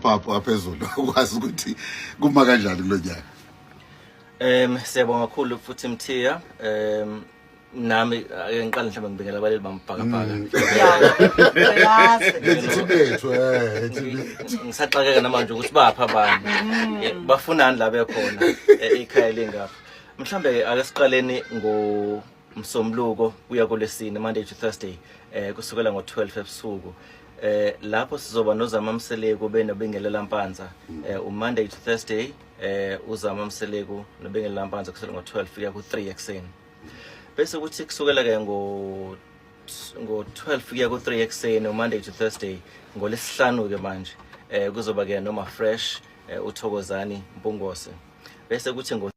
Papa waphezulu ukwazi ukuthi kuma kanjani kulonyaka. Em siyabonga kakhulu futhi Mthiya em nami ake ngiqale mhlawumbe ngibikela abaleli bamphakabhaka Mm. Lethi thibethu eh Ngi- ngisaxakeka namanje ukuthi baphi abantu Eh, bafunani la bekhona eh, ikhaya lingapha mhlawumbe ake siqaleni ngo Msombuluko kuya kolesine Monday to Thursday eh kusukela ngo12 ebusuku eh lapho sizoba noZama Mseleku benobingelela Mpanza mm. eh u Monday to Thursday eh uZama Mseleku nobingelela Mpanza kusukela ngo12 kuya ku3 ekseni bese kuthi kusukela ke ngo ngo12 kuya ku3 ekseni u Monday to Thursday ngolesihlanu ke manje eh kuzoba ke noma fresh eh, uthokozani mpungose bese kuthi ngo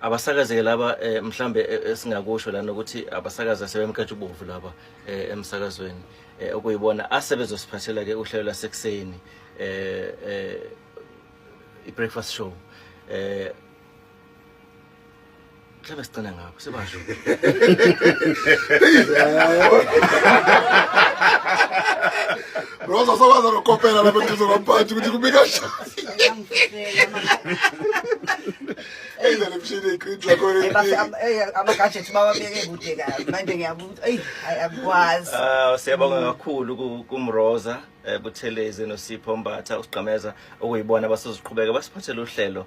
abasakazeke laba eh, mhlambe eh, esingakusho lana ukuthi abasakaza sebemkhetha ubovu laba eh, emsakazweni eh, okuyibona asebezosiphathela ke uhlelo lasekuseni eh, eh, i-breakfast show eh, mhlawumbe sigcina ngabo Sebasho. Rosa sokwaza nokopela lapha eduze kwamphathi ukuthi kubika shasi. Eyizele emshini iqinti lakho Eh, bafika leli. am- eh, ama-gadget bawabeke kude kabi manje ngiyabuza eyi ayi akwazi Ah siyabonga kakhulu ku- kumroza eh, buthelezi nosipho mbatha usigqameza okuyibona abasoziqhubeka basiphathele uhlelo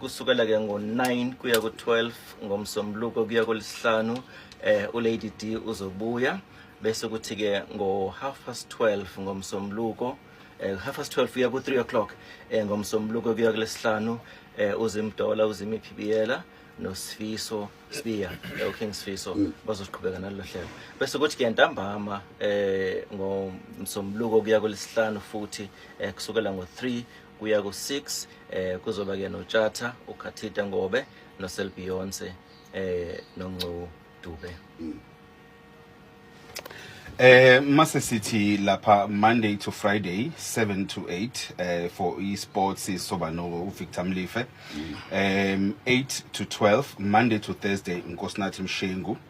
kusukela ke ngo-9 kuya ku-12 ngomsombuluko kuya kolisihlanu eh ulady d uzobuya bese kuthi ke ngo-half past 12 ngomsombuluko eh, half past 12 kuya ku-3 o'clock eh, ngomsombuluko kuya kulesihlanu eh, uzimdola uzimiphibiyela nosifiso sibiya eh, uking sifiso mm. bazoqhubeka nalelo hlelo bese kuthi ke ntambama eh ngomsombuluko kuya kulesihlanu futhi eh, kusukela ngo-3 kuya ku-6 eh kuzoba ke notshatha ukhathita ngobe noselbeyonce eh nongcu dube mm. Eh mase sithi lapha Monday to Friday 7 to 8 eh for esports soba no Victor Mlife. Mm. Um 8 to 12 Monday to Thursday Nkosinathi Mshengu. Mm.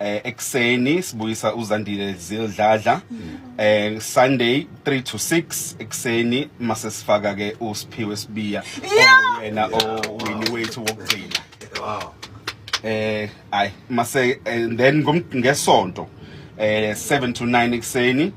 eh ekseni sibuyisa uzandile zildladla eh sunday 3 to 6 ekseni mase sifaka ke usiphiwe sibiya yena owini wethu wokugcina wow eh ay mase eh, then ngesonto eh 7 to 9 ekseni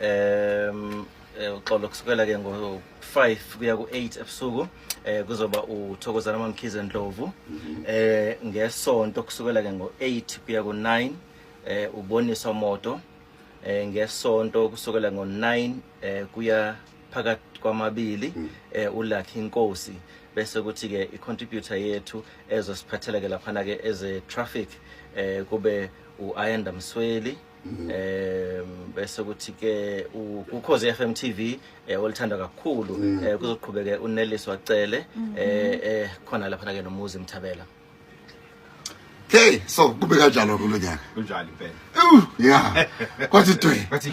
um eh, uxolo kusukela ke ngo-five kuya ku-eight ebusuku um kuzoba uthokozana mamkhize ndlovu um ngesonto kusukela ke ngo-eight kuya ku-nine um uboniswa moto um ngesonto kusukela ngo-nine um kuya phakathi kwamabili um mm. ulakhi inkosi bese kuthi-ke i-contributor yethu ezosiphathela-ke laphana-ke eze-traffic um kube u-ayanda msweli mm. eh bese kuthi ke ukhoze FM TV eh olithanda kakhulu mm. eh kuzoqhubeke uneliswa cele mm-hmm. eh eh khona lapha ke nomuzi mthabela Hey, so kube kanjalo kulonyaka. Kunjalo impela. Yeah. Kwathi twe. Kwathi.